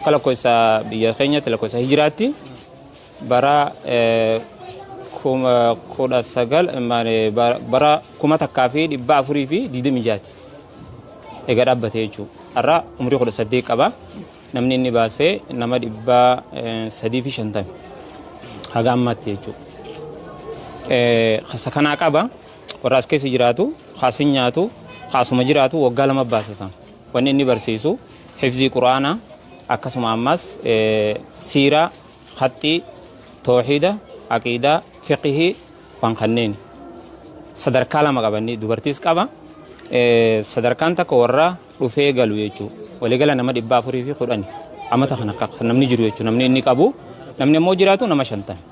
Akka lakkoofsa biyya keenyatti lakkoofsa hijiraatti bara kudha sagal bara kuma takkaa fi dhibba afurii fi digdamii jaati egaa dhaabbate jechuudha. Har'a umurii kudha saddeet qaba. Namni inni baasee nama dhibba sadii fi shantami haga ammaatti jechuudha. Kasa kanaa qaba warra as keessa jiraatu kaas hin nyaatu kaasuma jiraatu waggaa lama baasisa wanni inni barsiisu. hifzii qur'aanaa, akkasuma ammas siiraa, khaxxii, toohiida, aqiidaa, fiqhii waan kanneeni. Sadarkaa lama qaba inni dubartiis qaba. Sadarkaan takka warra dhufee galu jechuu waligala nama dhibba afurii fi kudhani amata kana kan namni jiru jechuu namni inni qabu namni ammoo jiraatu nama shantan.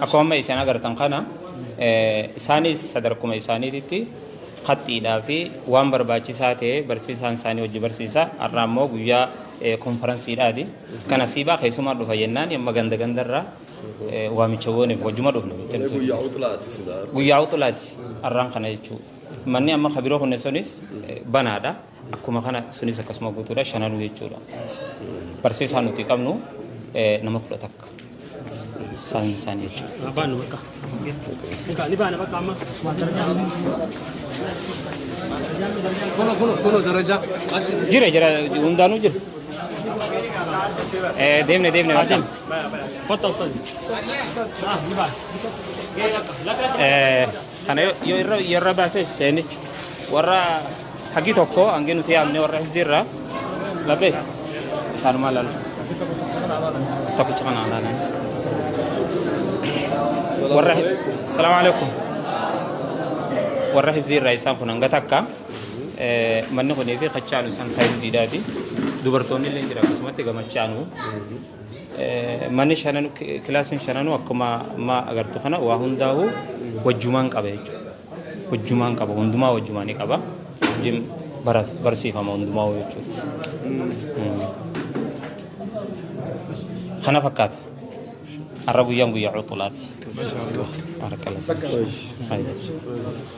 Akkuma amma isin agartan kana isaanis sadarkuma isaaniititti qaxxiidhaa fi waan barbaachisaa ta'e barsiisaan isaanii hojii barsiisa. Har'a immoo guyyaa konfaransiidhaati. Kana siibaa keessumaa dhufa jennaan amma ganda gandarraa waamicha gooniif hojuma dhufne. Guyyaa utulaati silaa. Guyyaa utulaati har'aan kana jechuudha. Manni amma kabiroo kunneen sunis banaadha. Akkuma kana sunis akkasuma guutuudha shananuu jechuudha. Barsiisaa nuti qabnu nama kudha takka. Isaan isaan jechuudha. Baanu bakka. Egaa ni baana bakka amma. Kuno kuno kuno darajaa. Jira jira hundaanuu jira. Deemne deemne bakka. Kottaa uffata. Ni baana. Lakka lakka. Kana yoo yoo irra yoo irra baasee seeni warra hagi tokko hangi nuti yaamne warra hizirra laphee isaanuma lalu tokkicha kana laalan warra salaamu alaikum warra hizirra isaan kun hanga takka eh, manni kunii fi kachaanu isaan kan hiziidhaati dubartoonni illee jira akkasumatti gamachaanu Manni shanan kilaasiin shananuu akkuma amma agartu kana waa hundaa'u wajjumaan qaba jechuudha. Wajjumaan qaba hundumaa wajjumaa ni qaba. Wajjin barata barsiifama hundumaa jechuudha. Kana fakkaata. Har'a guyyaan guyyaa cuuxulaati. Masha Allah. Harka lafa. Bayyee.